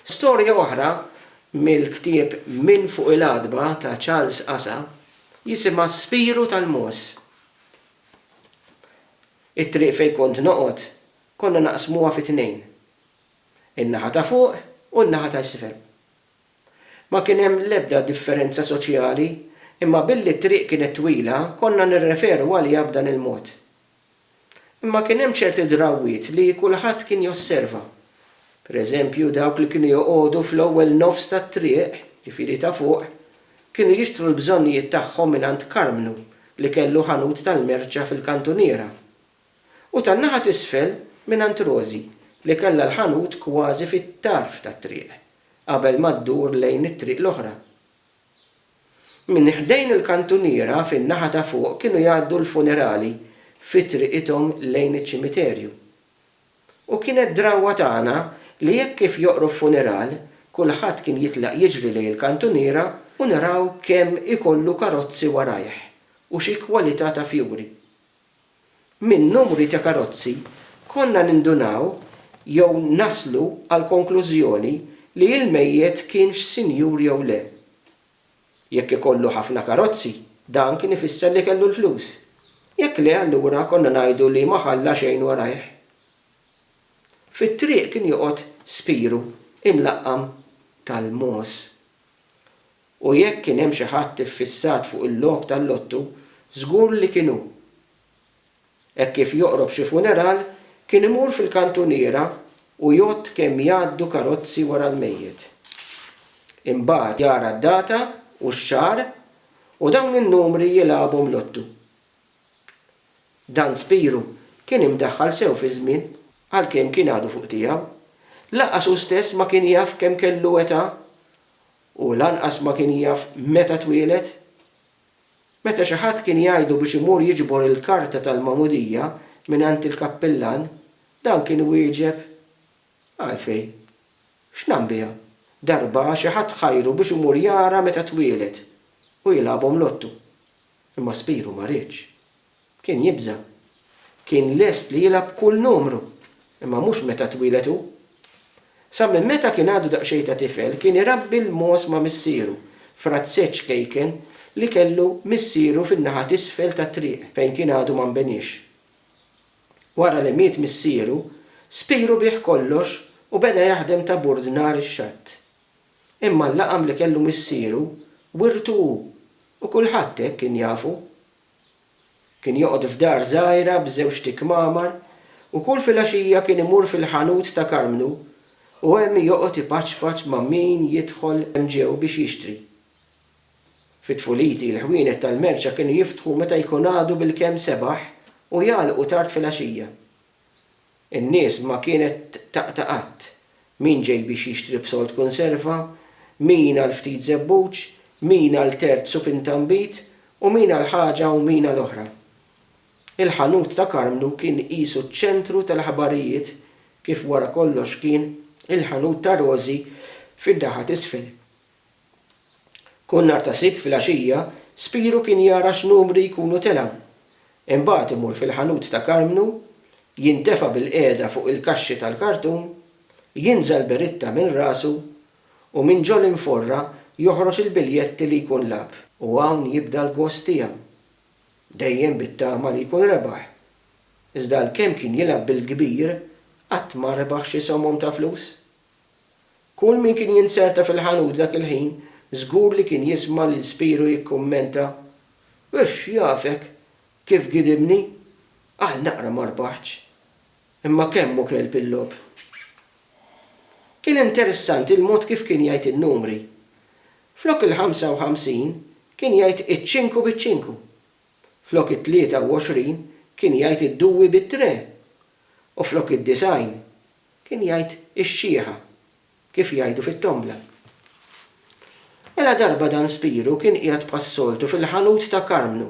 Storja oħra mill-ktieb Minn Fuq il-Għatba ta' Charles Asa jisimha Spiru tal-Mogħoż. It-triq fejn kont noqgħod konna naqsmuha fi tnejn, in-naħa ta' fuq u n-naħa ta' isfel. Ma kien hemm l-ebda differenza soċjali imma billi t-triq kienet twila konna nirreferu għaliha b'dan il-mod. Imma kien hemm ċerti drawwiet li kulħadd kien josserva. Pereżempju, dawk li kienu joqogħdu fl-ewwel nofs tat-triq, ġifieri ta' fuq, kienu jixtru l-bżonnijiet tagħhom mingħand Karmnu li kellu ħanut tal-merċa fil-kantuniera. U tan-naħa t'isfel mingħand Rożi li kellha l-ħanut kważi fit-tarf tat-triq, qabel ma ddur lejn it-triq l-oħra. Minn ħdejn il-kantuniera fin-naħa ta' fuq kienu jgħaddu l-funerali fi triqithom lejn iċ-ċimiterju. U kienet drawwa tagħna li hekk kif joqrob funeral, kulħadd kien jitlaq jiġri lejn il-kantuniera u naraw kemm ikollu karozzi warajh u xi kwalità ta' fjuri. Minn numri ta' karozzi konna nindunaw jew naslu għall-konklużjoni li il-mejjet kienx sinjur jew le. Jekk ikollu ħafna karozzi, dan kien ifisser li kellu l-flus. Jekk le allura konna ngħidu li ma ħalla xejn warajh. Fit-triq kien joqgħod spiru imlaqqam tal-mogħoż. U jekk kien hemm xi ħadd iffissat fuq il-logħob tal-lottu, żgur li kien hu. Hekk kif joqrob xi funeral, kien imur fil-kantuniera u jgħodd kemm jgħaddu karozzi wara l-mejjet. Imbagħad jara d-data u x-xahar u dawn in-numri jilagħabhom lottu. Dan Spiru kien imdaħħal sew fiż-żmien, għalkemm kien għadu fuq tiegħu. Lanqas hu stess ma kien jaf kemm kellu età U lanqas ma kien jaf meta twieled. Meta xi ħadd kien jgħidlu biex imur jiġbor il-karta tal-magħmudija mingħand il-kappillan, dan kien iwieġeb, Għalfejn? X'nagħm biha? Darba xi ħadd ħajru biex imur jara meta twieled u jilgħabhom lottu. Imma Spiru ma riedx. Kien jibża'. Kien lest li jilgħab kull numru, imma mhux meta twieled hu. Sa minn meta kien għadu daqsxejn ta' tifel kien irabbi l-mogħoż ma' missieru, frazzeġġ kejken li kellu missieru fin-naħa t'isfel tat-triq fejn kien għadu ma nbeniex. Wara li miet missieru, spiru biegħ kollox u beda jaħdem ta' burdnar ix-xatt. Imma l-laqam li kellu missieru wirtu hu u kulħadd hekk kien jafu. Kien joqgħod f'dar żgħira b'żewġt ikmamar u kull filgħaxija kien imur fil-ħanut ta' Karmnu u hemm joqgħod ipaċpaċ ma' min jidħol hemm ġew biex jixtri. Fi tfuliti l-ħwienet tal-merċa kienu jiftħu meta jkun għadu bilkemm sebaħ u jagħlqu tard filgħaxija. In-nies ma kienet taqta' qatt. Min ġej biex jixtri b'sold kunserva, min għal ftit żebbuġ, min għal tert supin ta' nbid u min għal ħaġa u min għal oħra. Il-ħanut ta' Karmnu kien qisu ċ-ċentru tal-aħbarijiet kif wara kollox kien il-ħanut ta' Rożi fin-naħa t'isfel. Kull nhar ta' Sibt filgħaxija Spiru kien jara x'numri jkunu tela'. Imbagħad imur fil-ħanut ta' Karmnu, jintefa' bilqiegħda fuq il-kaxxi tal-kartun, jinża' l-beritta minn rasu u minn ġo l-inforra joħroġ il-biljetti li jkun lagħab. U hawn jibda l-gost tiegħu. Dejjem bit-tama li jkun rebaħ. Iżda għalkemm kien jilgħab bil-kbir, qatt ma rebaħ xi somom ta' flus. Kull min kien jinzerta fil-ħanut dak il-ħin żgur li kien jisma' lil Spiro jikkummenta, Uff, jafek, kif gidibni! Għal naqra ma rbaħtx. Imma kemm hu kelb il-logħob! Kien interessanti l-mod kif kien jgħid in-numri. Flok il-ħamsa u ħamsin kien jgħid iċ-ċinku biċ-ċinku. Flok it-tlieta u għoxrin kien jgħid id-duwi bit-tre. U flok id-disgħin Kien jgħid ix-xieħa, kif jgħidu fit-tombla. Mela darba dan Spiru kien qiegħed bħas-soltu fil-ħanut ta' Karmnu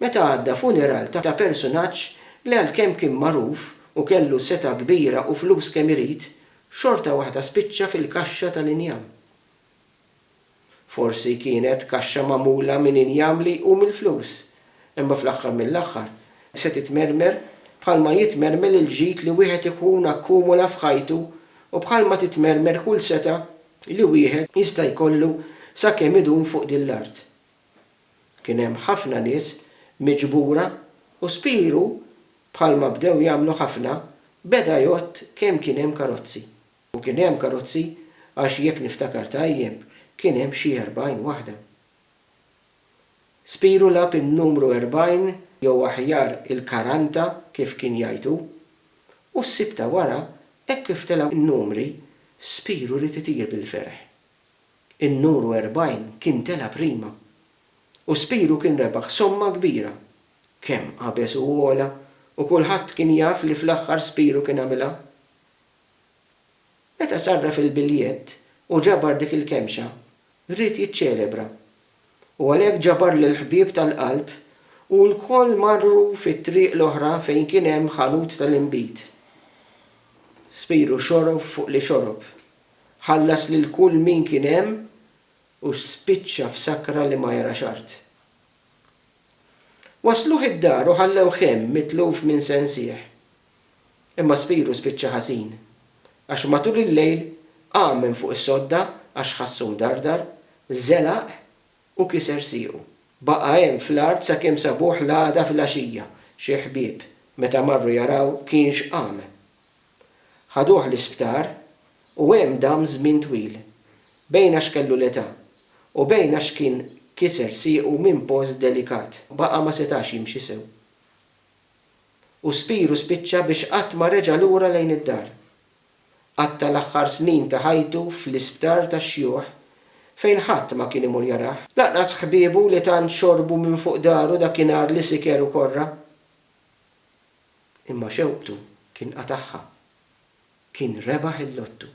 meta għadda funeral ta' persunaġġ li għalkemm kien magħruf u kellu setgħa kbira u flus kemm irid, xorta waħda spiċċa fil-kaxxa tal-injam. Forsi kienet kaxxa magħmula minn injam li jqum il-flus, imma fl-aħħar mill-aħħar se titmermer bħalma jitmermel il-ġid li wieħed ikun akkumula f'ħajtu u bħalma titmermer kull setgħa li wieħed jista' jkollu sakemm idum fuq din l-art. Kien hemm ħafna nies miġbura u spiru bħalma bdew jagħmlu ħafna beda jgħodd kemm kien hemm karozzi. U kien hemm karozzi għax jekk niftakar tajjeb kien hemm xi erbgħin waħda. Spiru lagħab in-numru erbgħin jew aħjar il-karanta kif kien jgħid hu. U s-sibt ta' wara hekk kif telgħu n-numri Spiru ried itir bil-ferħ. In-nuru erbgħin kien tela' prima. U Spiru kien rebaħ somma kbira. Kemm qabeż u għola u kulħadd kien jaf li fl-aħħar Spiru kien għamilha. Meta sarraf il-biljett u ġabar dik il-kemxa, ried jiċċelebra. U għalhekk ġabar lill-ħbieb tal-qalb u lkoll marru fit-triq l-oħra fejn kien hemm ħanut tal-inbid. Spiru xorob fuq li xorob. Ħallas lil kull min kien hemm u spiċċa f'sakra li ma jarax art. Wassluh id-dar u ħallewh hemm mitluf minn sensih. Imma spiru spiċċa ħażin, għax matul il-lejl qam minn fuq is-sodda għax ħassu mdardar, żelaq u kiser siequ. Baqa' hemm fl-art sakemm sabuh l-għada filgħaxija, xi ħbieb, meta marru jaraw kienx qam. Ħaduh l-isptar u hemm dam żmien twil, bejn għax kellu l-età u bejn għax kien kiser siequ minn post delikat, baqa' ma setax jimxi sew. u spiru spiċċa biex qatt ma reġa' lura lejn id-dar. Qatta' l-aħħar snin ta' ħajtu fl-isptar tax-xjuħ fejn ħadd ma kien imur jarah. Lanqas ħbiebu li tant xorbu minn fuq daru dakinhar li siker u korra. Imma xewqtu kien qatagħha. Kien rebaħ il-lottu.